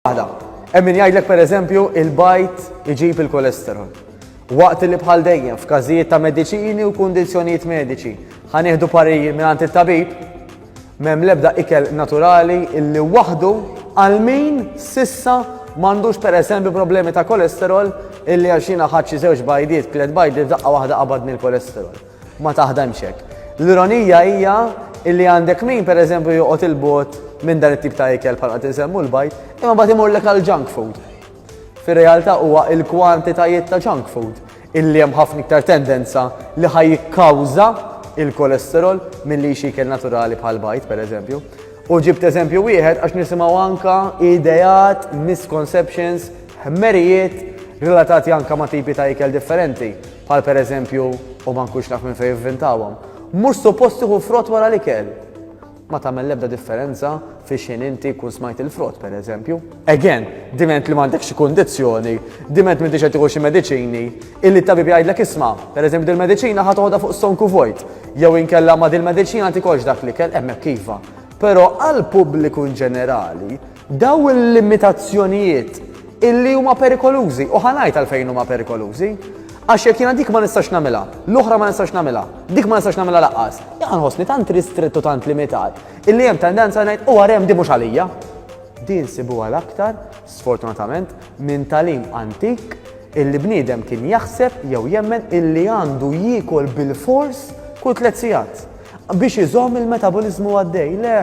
Waħda. Hemm min jgħidlek pereżempju il-bajt iġib il-kolesterol. Waqt li bħal dejjem f'każijiet ta' mediċini u kundizzjonijiet mediċi ħanieħdu pariri mingħand it-tabib, m'hemm l-ebda ikel naturali illi waħdu għal min sissa m'għandux pereżempju problemi ta' kolesterol illi għal xina ħadd xi żewġ bajdiet, tliet bajdiet daqqa waħda qabadni l-kolesterol. Ma taħdemx hekk. L-ironija hija illi għandek min pereżempju joqgħod il-bogħod minn dan it-tip ta' ikel bħal qed insemmu l-bajd, imma bagħad imurlek għal junk food. Fir-realtà huwa il-kwantitajiet ta' junk food illi hemm ħafna iktar tendenza li ħaj jikkawża il-kolesterol milli xi ikel naturali bħal bajd pereżempju. U ġibt eżempju wieħed għax nisimgħu anka ideat, misconceptions, ħmerijiet relatati anka ma' tipi ta' ikel differenti. bħal pereżempju u ma nkunx naf minn fejn ivvintawhom, mhux suppost tieħu frott wara l-ikel. Ma tagħmel l-ebda differenza fiex ħin inti jkun smajt il-frott pereżempju. Again, diment li m'għandek xi kundizzjoni, diment m'intix qed tieħu xi mediċini, illi t-tabib jgħidlek isma', pereżempju dil-mediċina ħa toħodha fuq stonku vojt, jew inkella ma' dil-mediċina tikolx dak l-ikel, hemmhekk iva. Però għall-pubbliku inġenerali, Dawn il-limitazzjonijiet illi huma perikolużi u ħa ngħid għalfejn huma perikolużi. Għax jekk jiena dik ma nistax nagħmilha, l-oħra ma nistax nagħmilha, dik ma nistax nagħmilha laqqas. Jaqqa' nħossni tant ristrett u tant limitat illi hemm tendenza ngħid u għarem di mhux għalija. Din sibuha l-aktar, sfortunatament, minn talim antik illi bniedem kien jaħseb jew jemmen illi għandu jiekol bil-fors kull tliet sigħat. Biex iżomm il-metaboliżmu għaddej? Le!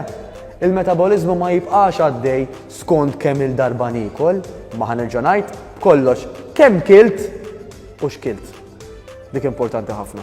Il-metaboliżmu ma jibqax għaddej skont kemm-il darba niekol, imma ħa nerġa' ngħid, b'kollox, kemm kilt u x'kilt. Dik importanti ħafna.